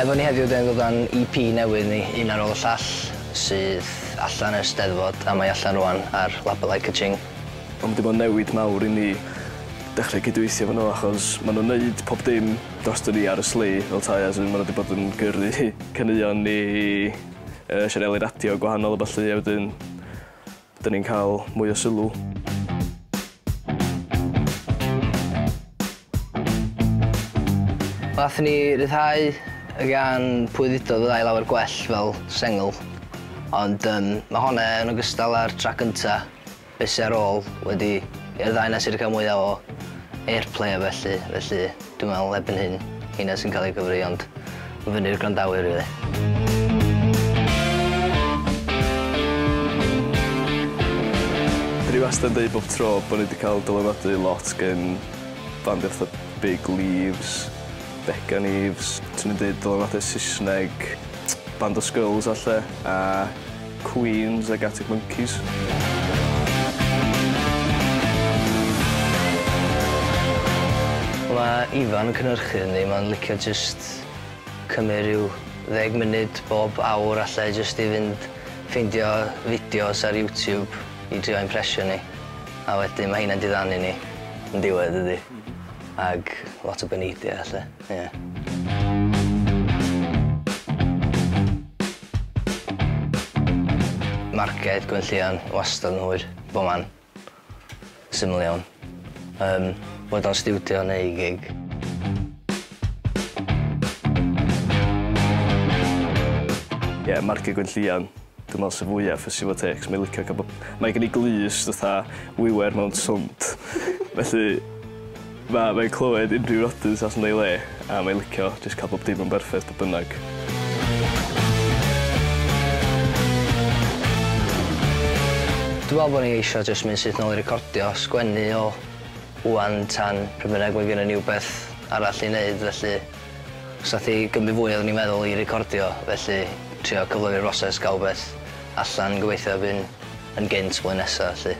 Efo ni heddiw dyn ni'n dod â'n EP newydd ni, Un ar ôl y llall, sydd allan ers Steddfod a mae allan rwan ar label I Ka-Ching. Ond ma' 'di bod yn newid mawr i ni dechre cydweithio efo n'w achos ma' nw'n neud pob dim drosto ni ar y sleigh fel 'tai as in ma' n'w 'di bod yn gyrru caneuon ni yy sianeli radio gwahanol a ballu a wedyn 'dyn ni'n ca'l mwy o sylw. Nathon ni ryddhau y gan Pwy Ddudodd Fydda' i Lawer Gwell fel sengl ond yym ma' hon yn ogystal â'r trac gynta' Be sy ar ôl wedi i'r ddau na sy wedi cael mwya o airplay a bellu, felly dwi'n meddwl erbyn hyn heina sy'n cael eu cyfri ond ma'n fyny i'r gwrandawyr rili. Dwi wastad yn deud bob tro bo' ni 'di ca'l dylanwadu lot gin bandia fatha Big Leaves, Beca Leaves, swn i'n deud dylanwadu Sysneg band o Skrulls a 'lle a Queens ag Arctic Monkeys. Mae Ifan yn cynhyrchu hynny, mae'n licio jyst cymryd rhyw ddeg munud bob awr alle jyst i fynd ffeindio fideos ar YouTube i drio impression ni, a wedyn mae heina'n diddanu ni yn diwedd dydy? Mhm. Ag lot o beneidiau alle, ie. Marciau Gwyn Llian wastad yn hwyr, bob man. Syml iawn. Yym, boed o'n stiwdio neu i gig. Ie, Marciau Gwyn Llian. Dwi'n meddwl sy'n fwyaf ffysi fo tecs. Mae'n licio cael bod... Mae gen i glust fatha wiwer mewn swmp. Felly... Mae mae'n clywed unrhyw rodents allan o'i le a mae'n licio jyst cael bob dim yn berffeth beth bynnag. Dwi'n meddwl bod ni eisiau jyst mynd syth nôl i recordio, sgwennu o ŵan tan pryd bynnag mae gynnon ni wbeth arall i wneud felly os aeth i gymryd fwy oeddwn i'n meddwl i recordio felly trio cyflymu'r broses, gael wbeth allan gobeithio erbyn yn gynt blwyddyn nesa felly.